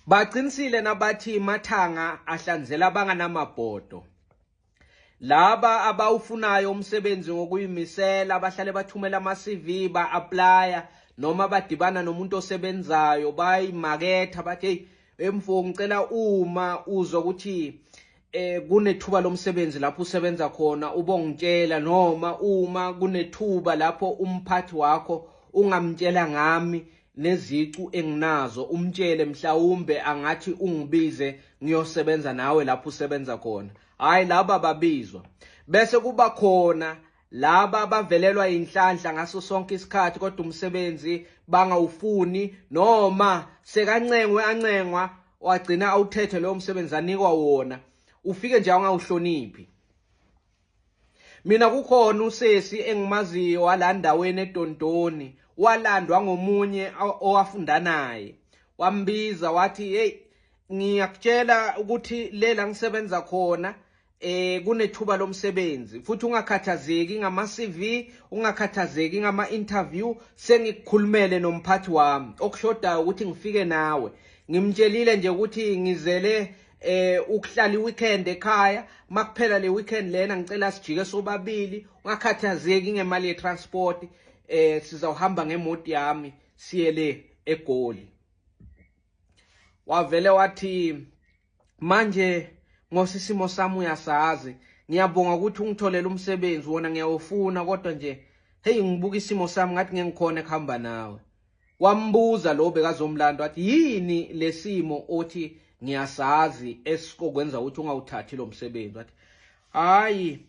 Baqinisile nabathi mathanga ahlanzela abanganamabhodo. Laba abawufunayo umsebenzi ngokuyimisela bahlale bathumela ama-CV ba-aplya noma badibana nomuntu osebenzayo bayimaketha bathi hey emfo ngicela uma uzwa ukuthi eh kunethuba lomsebenzi lapho usebenza khona ubongitshela noma uma kunethuba lapho umphathi wakho ungamtshela ngami nezicu enginazo umtshele mhlawumbe angathi ungibize ngiyosebenza nawe lapho usebenza khona hayi laba babizwa bese kuba khona laba abavelelwa inhlanhla ngaso sonke isikhathi kodwa umsebenzi bangawufuni noma sekancengwe ancengwa wagcina awuthethe lowo msebenzi anikwa wona ufike nje angawuhloniphi Mina kukhona usesi engimaziyo walandaweni eDondoni walandwa ngomunye owafunda naye wambiza wathi hey ngiyakutshela ukuthi lela ngisebenza khona eh kunethuba lomsebenzi futhi ungakhathazeki ngama CV ungakhathazeki ngama interview sengikukhulumele nomphathi wami okushodayo ukuthi ngifike nawe ngimtshelile nje ukuthi ngizele eh ukuhlala iweekend ekhaya makuphela le weekend lena ngicela sijike sobabili ungakhathazeki ngemali yetransport eh sizawuhamba ngemoti yami siye le egoli wavele wathi manje ngosisimo sami uyasazi ngiyabonga ukuthi ungitholele umsebenzi wona ngiyawufuna kodwa nje hey ngibuka isimo sami ngathi ngengikhona ekuhamba nawe Wambuza lo bekazomlanda wathi yini lesimo othi ngiyasazi esikokwenza ukuthi ungawuthathi lo msebenzi wathi hayi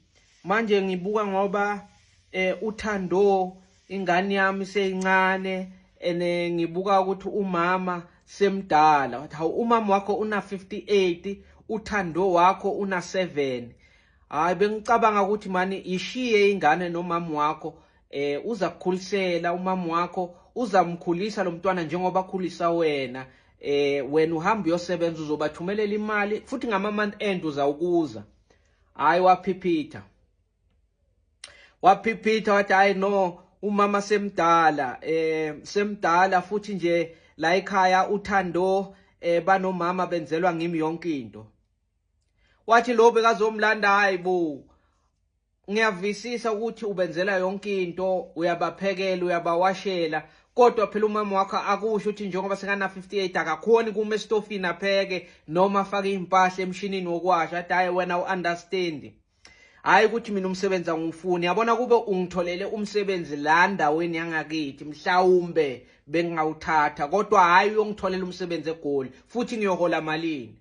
manje ngibuka ngoba eh uthando ingane yami seyincane ene ngibuka ukuthi umama semdala wathi hawu umama wakho una 58 uthando wakho una 7 hayi bengicabanga ukuthi mani ishiye ingane nomama wakho eh uza kukhulisela umama wakho uzamkhulisa lo mntwana njengoba akhulisa wena eh wena uhamba uyosebenza uzobathumelela imali futhi ngama month end uzawukuza hayi waphiphitha waphiphitha wathi hayi no umama semdala eh semdala futhi nje la ekhaya uthando eh banomama benzelwa ngimi yonke into wathi lo bekazomlanda hayi bo ngiyavisisa ukuthi ubenzela yonke into uyabaphekela uyabawashela kodwa phela umama wakho akusho ukuthi njengoba sekana-58 akakhoni kuma esitofini apheke noma afake iy'mpahla emshinini wokwasha athi hhayi wena u-understandi hhayi ukuthi mina umsebenzi angiwufuni yabona kube ungitholele umsebenzi la ndaweni yangakithi mhlawumbe bengingawuthatha kodwa hhayi uyongitholela umsebenzi egoli futhi ngiyohola malini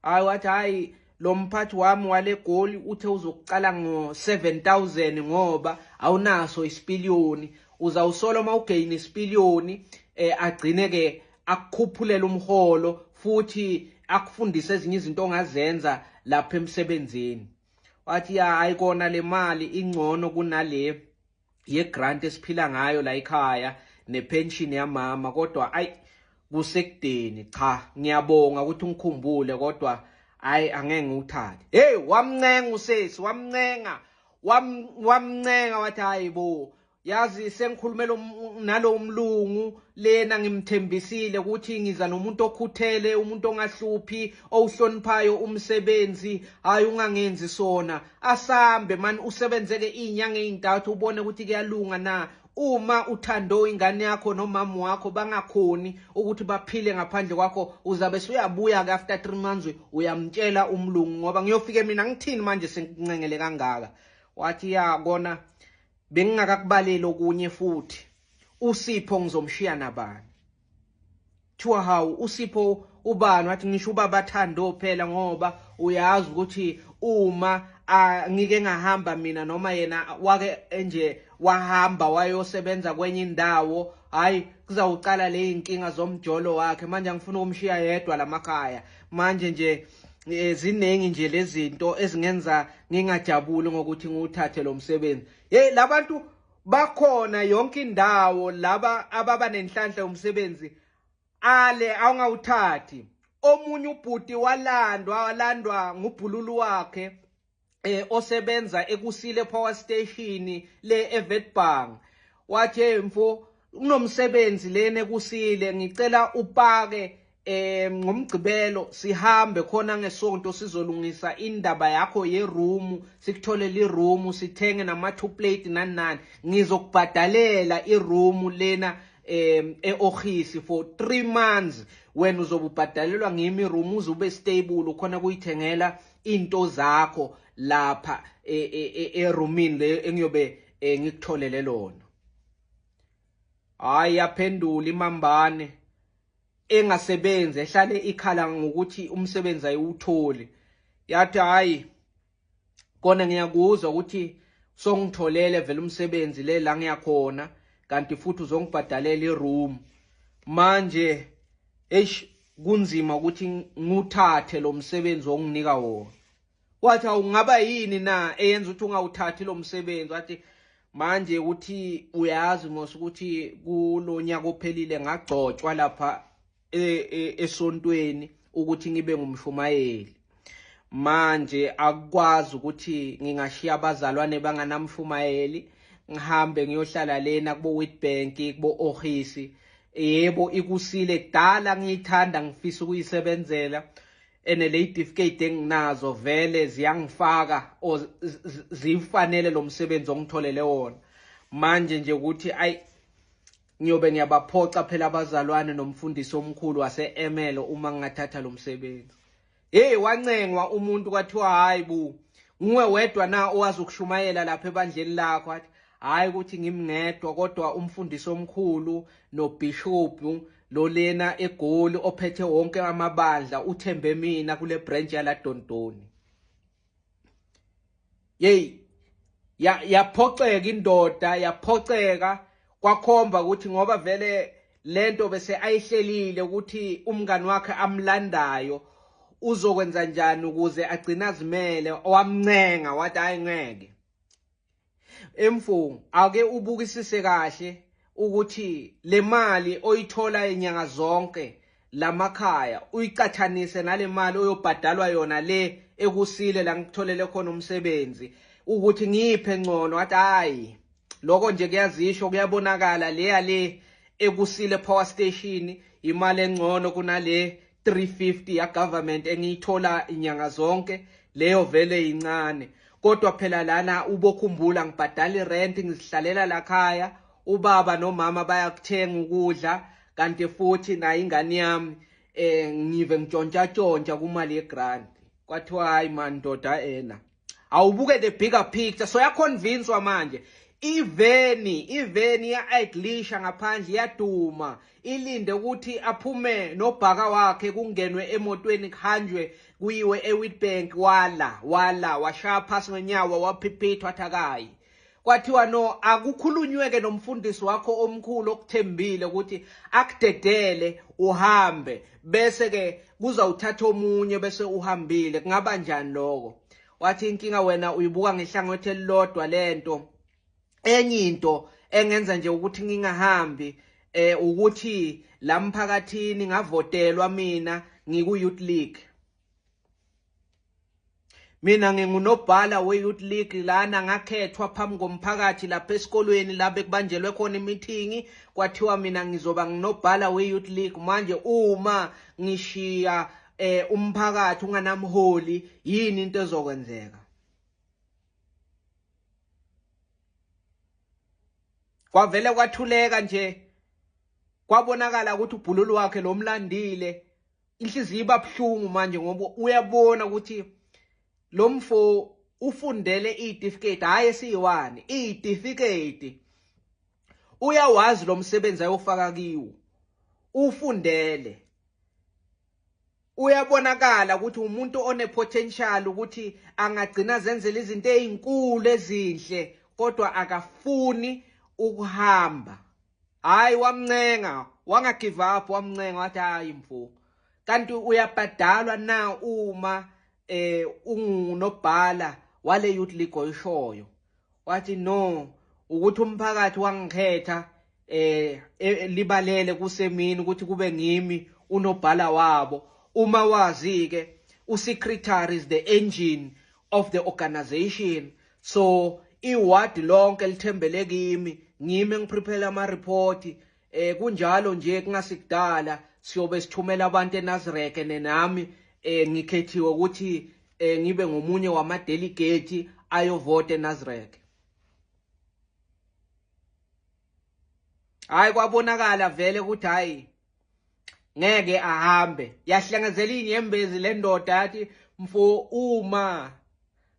hayi wathi hayi lo mphathi wami wale goli uthe uzokucala ngo-7000 ngoba awunaso isipiliyoni uzawusola uma ugeyini isipiliyoni um eh, agcine-ke akukhuphulela umholo futhi akufundise ezinye izinto ongazenza lapha emsebenzini wathi ya hayi kona le mali ingcono kunale yegrant esiphila ngayo la ekhaya nepension yamama kodwa ayi kusekudeni cha ngiyabonga ukuthi ungikhumbule kodwa hayi angeke ngiwuthathe hey wamncenga usesi wamncenga wamncenga wathi hayi bo yazi sengikhulumela um, nalowo mlungu lena ngimthembisile ukuthi ngiza nomuntu okhuthele umuntu ongahluphi owuhloniphayo umsebenzi hayi ungangenzi sona asambe mani usebenzeke iy'nyanga ey'ntathu ubone ukuthi kuyalunga na uma uthando ingane yakho nomama wakho bangakhoni ukuthi baphile ngaphandle kwakho uzabe suyabuya-ke after three months uyamtshela umlungu ngoba ngiyofike mina ngithini manje sengincengele kangaka wathi ya kona bengingakakubaleli okunye futhi uSipho ngizomshiya nabani kuthiwa hawu usipho ubani wathi ngisho ubaba thando phela ngoba uyazi ukuthi uma ngike ngahamba mina noma yena wake nje wahamba wayosebenza kwenye indawo hayi kuzawucala le inkinga zomjolo wakhe manje angifuna ukumshiya yedwa lamakhaya manje nje eh, ziningi nje lezinto ezingenza ngingajabuli ngokuthi ngiwuthathe lo msebenzi hey labantu bakhona yonke indawo laba ababa nenhlanhla yomsebenzi ale awungawuthathi omunye ubhuti walandwa walandwa ngubhululu wakhe eh osebenza ekusile power station le evetbank wathi mfo kunomsebenzi lena ekusile ngicela upake eh ngomgcibelo sihambe khona ngesonto sizolungisa indaba yakho yeroom sikutholele iroom sithenge nama two plate nani nani ngizokubhadalela iroom lena em eohisi for 3 months wena uzobubhadalelwa ngimi room uzube stable khona kuyithengela into zakho lapha e, e, e, eroomini le engiyobe eh, ngikutholele lona hayi yaphendula imambane engasebenzi ehlale ikhala ngokuthi umsebenzi ayiwutholi yathi hayi kona ngiyakuzwa ukuthi songitholele vele umsebenzi le la ngiyakhona kanti futhi uzongibhadalela iroom manje eish kunzima ukuthi nguthathe lo msebenzi onginika wona Wathi awungaba yini na eyenza ukuthi ungawuthathi lo msebenzi wathi manje ukuthi uyazi mos ukuthi kulonyaka ophelile ngagcotshwa lapha e, e, esontweni ukuthi ngibe ngumshumayeli manje akukwazi ukuthi ngingashiya abazalwane banganamshumayeli ngihambe ngiyohlala lena kubo Witbank kubo Ohisi yebo ikusile kudala ngiyithanda ngifisa ukuyisebenzela ene le certificate enginazo vele ziyangifaka or zifanele lo msebenzi ongitholele wona manje nje ukuthi ayi ngiyobe ngiyabaphoxa phela abazalwane nomfundisi omkhulu wase-emelo uma ngingathatha lo msebenzi heyi wancengwa umuntu kwathiwa hhayi bu nguwe wedwa na owazi ukushumayela lapha ebandleni lakho athi hhayi ukuthi ngimngedwa kodwa umfundisi omkhulu nobhishobhu lolena egoli ophethe wonke amabandla uthembe mina kule branch yaladondoni yeyi yaphoxeka indoda yaphoxeka kwakhomba ukuthi ngoba vele lento bese ayihlelile ukuthi umngani wakhe amlandayo uzokwenza njani ukuze agcine azimele wamncenga wathi hayi ngeke Emfungu ake ubukisise kahle ukuthi le mali oyithola inyanga zonke lamakhaya uyiqathanise nale mali oyobhadalwa yona le ekusile la ngikutholele khona umsebenzi ukuthi ngiphe ngcono athi hayi lokho nje kuyazisho kuyabonakala leya le ekusile power station imali engcono kunale 350 ya government engiyithola inyanga zonke leyo vele incane kodwa phela lana ubokhumbula ngibhadala irent ngizihlalela lakhaya ubaba nomama bayakuthenga ukudla kanti futhi nayo ingane yami eh ngive ngitshontshatshontsha kumali yegrant kwathiwa hayi mandoda ena awubuke the bigger picture so yaconvinswa manje iveni iveni ya-idlisha ngaphandle iyaduma ilinde ukuthi aphume nobhaka wakhe kungenwe emotweni kuhanjwe kuyiwe ewitbank wala wala washaya phasi ngenyawo waphiphithwa athakayi kwathiwa no akukhulunyweke nomfundisi wakho omkhulu okuthembile ukuthi akudedele uhambe bese ke kuza uthatha omunye bese uhambile kungaba njani lokho wathi inkinga wena uyibuka ngehlangothi elilodwa lento enye into engenza nje ukuthi ngingahambi eh ukuthi la mphakathini ngavotelwa mina ngiku youth league Mina ngingunobhala we-youth league lana ngakhethwa phambi komphakathi lapha esikolweni la bekubanjelwe khona imithingi kwathiwa mina ngizoba nginobhala we-youth league manje uma ngishiya eh umphakathi unganamholi yini into ezokwenzeka kwavele kwathuleka nje kwabonakala ukuthi ubhululu wakhe lomlandile inhliziyo iba buhlungu manje ngoba uyabona ukuthi lo mfo ufundele iy'tifiketi hhayi esiyiwani iy'tifiketi uyawazi lo msebenzi ayofaka kiwo ufundele uyabonakala ukuthi umuntu onepotential ukuthi angagcina zenzela izinto ezinkulu ezinhle kodwa akafuni ukuhamba hayi wamncenga wanga give up wamncenga wathi hayi mfo kanti uyabhadalwa na uma eh ungunobhala wale youth league oyishoyo wathi no ukuthi umphakathi wangikhetha eh e, libalele kusemini ukuthi kube ngimi unobhala wabo uma wazi ke usecretary is the engine of the organization so iward lonke lithembele kimi ngime ngiprepare ama report eh kunjalo nje kungasikudala siyobe sithumela abantu eNazareth nenami eh ngikhethiwe ukuthi eh ngibe ngomunye wama delegate ayovote eNazareth hayi kwabonakala vele ukuthi hayi ngeke ahambe yahlangazela inyembezi lendoda yathi mfo uma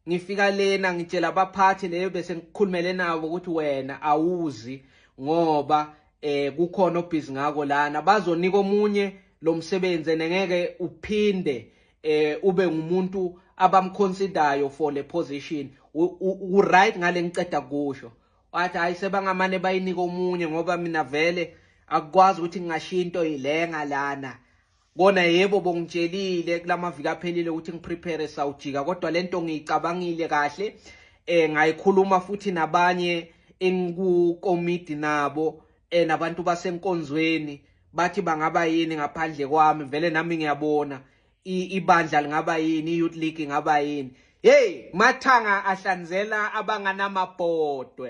ngifika lena ngitshela abaphathi leyo bese ngikhulumele nabo ukuthi wena awuzi ngoba eh kukhona obhizi ngako lana bazonika omunye lo msebenzi nengeke uphinde eh ube ngumuntu abamconsidayo for le position u right ngale ngiceda kusho wathi hayi sebangamane bayinike omunye ngoba mina vele akukwazi ukuthi ngingashiya into yilenga lana kona yebo bongitshelile kulamaviki aphelile ukuthi ngiprepare sawujika kodwa lento ngiyicabangile kahle eh ngayikhuluma futhi nabanye engikukomidi nabo eh nabantu basenkonzweni bathi bangaba yini ngaphandle kwami vele nami ngiyabona ibandla lingaba yini i-youth league ingaba yini yeyi mathanga ahlanzela abanganamabhodwe